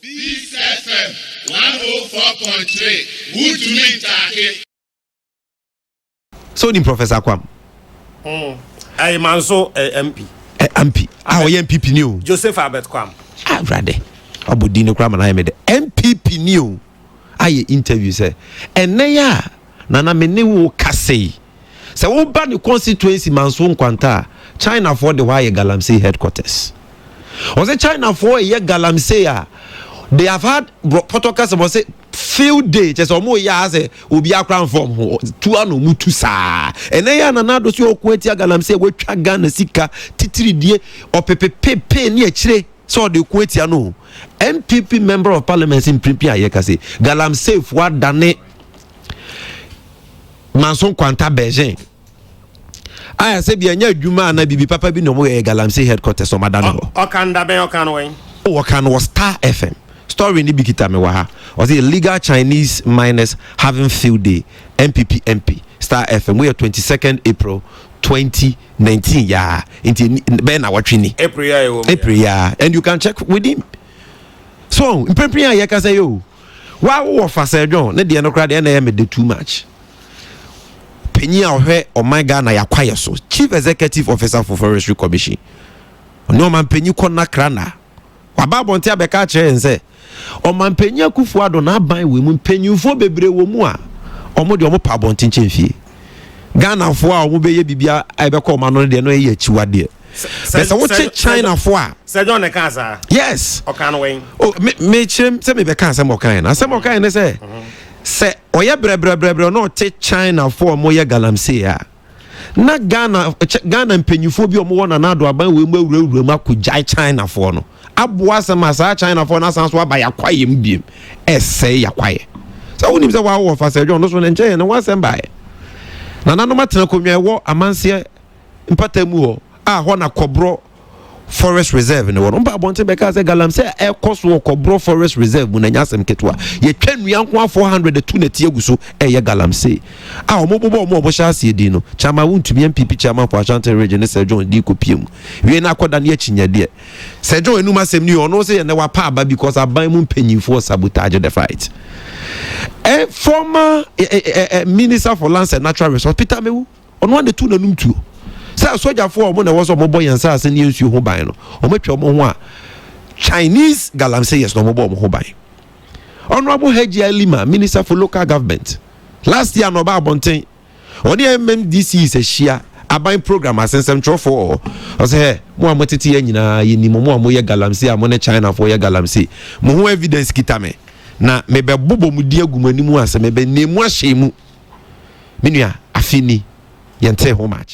Peace FM one oh four point three wotumi ntaake. So ni Professor Kwam. Mm. Hey, Manso eh, MP. Eh, MP. Ah, oh, MPP ni o. Joseph Albert Kwam. Ah, brother. Abo di no kura ma na yɛ mi dɛ. MPP ni o. ayɛ interview sɛ ɛnnɛ yi a Nana me ne wo rekasa yi, sɛ woba ne constituency Manso Nkwanta a, Chinafoɔ de hɔ ayɛ Galamsey headquarters. Ɔse Chinafoɔ reyɛ Galamsey a, they have had pɔtɔ kasa mu ɔse field day kyɛ sɛ wɔn reyɛ a sɛ obi akora nfa wɔn ho tu ano wɔn tu saa. Ɛnɛ yɛ a Nana Addo so yɛ ɔko atia Galamsey a watwa Ghana sika titiridie ɔpepepepe ne akyire. sɛ ɔde ko atia no o. NPP member of parliament mpinpin a yɛka se Galamsey fo adane Manson Kwanta Beijing a ɛsɛ bi ɛnyɛ adwuma anaa bibi papa bi na ɔmo yɛ Galamsey headquarters ɔmo adane hɔ. Ɔkan da bɛn ɔkan wɛn? O ɔkan no wɔ Star FM. Story no bi kita me wɔ ha. Ɔse illegal Chinese miners having field day, NPP MP, Star FM, wei yɛ twenty second April twenty. nineteen yaa nti bɛyɛ na wɔtwe ni april yaa and you can check with him so mprempren a yɛkasa yi o wawowɔ fa sɛ dwon ne deɛ no koraa deɛ na ɛyɛ mede too much panyin a ɔhwɛ ɔman ghana yɛakwayɛ so chief executive officer for forestry commission ɔne ɔman panyin kɔ nakra na waba abɔnten abɛka akyerɛ yɛn sɛ Ɔmanpanyin Akuffo Addo n'aban wɔ mu mpanyimfoɔ bebree wɔ mu a wɔn deɛ wɔpɛ abɔnten kyɛn fie. Ghanafoɔ a wɔn bɛyɛ biribi a ɛbɛkɔ wɔn ano no deɛ no ɛyɛ akyiwadeɛ. Bɛ sɛ wokye Chinafoɔ a. Sɛ John na ɛka saa. Yes. Ɔka no wɛn. O me me kyerɛm sɛ mebɛka asɛm ɔka yɛn. Asɛm ɔka yɛn ne sɛ sɛ ɔyɛ brɛbrɛbrɛbrɛ na ɔte Chinafoɔ a wɔyɛ galamsey a. na Ghana kyɛ Ghana mpanyinfoɔ bi a wɔwɔ Nana Addo aban wei mu awurawura mu akɔgyae Chinafoɔ no aboa asɛm a saa Chinafoɔ no asan so aba yakwayɛ mu biem ɛsɛe yakwayɛ sɛ wonim sɛ wɔawɔ fasɛ dwɔn no so no nkyɛn yɛ ne ho asɛm baeɛ nananom atena akonnwa ɛwɔ amanseɛ mpata mu hɔ a hɔ na kɔborɔ forest reserve no wɔ no mpa abɔnten bɛka sɛ galamsey a ɛkɔ so wɔ kɔborɔ forest reserve mu na ɛnyɛ asɛm ketewa yɛtwa nnua nko a 400 tu nɛti agu so ɛyɛ galamsey a wɔbobɔ wɔn a wɔhyɛ aseɛ din no kyama wontumi mpp kyama for ashanti region ne sɛ john di kɔpie mu wie no akɔda ne akyinyadeɛ sɛ john anum asɛm no yɛ ɔno sɛ yɛnɛ wapa aba because aban mu mpanyinfoɔ sabotage the fight eh, former eh, eh, eh, eh minister for lands and natural resources peter mewu Ɔno ara na ɛtoo n'anom tuo sɛ asogyafoɔ a wɔn na ɛwɔ sɛ wɔbɔ yɛn nsase ne yɛn nsuo ho ban no, wɔatwa wɔn ho a Chinese galamseyers na wɔbɔ wɔn ho ban. Honorable Hajji Ali Lima, Minister for Local Government, last year na ɔba abɔnten, ɔne MMDCs ahyia aban program ase nsɛmtwerɛfoɔ wɔ hɔ, ɔsɛ hɛ, mo a motete yɛ nyinaa yɛnim mo a moyɛ galamsey a mo ne Chinafoɔ yɛ galamsey, mo ho evidence kita me. Na mebɛbobɔ mo din agu mo anim ase, mebɛnam mu ahyɛn mu. Me nua, afe ni, yɛntee ho makye.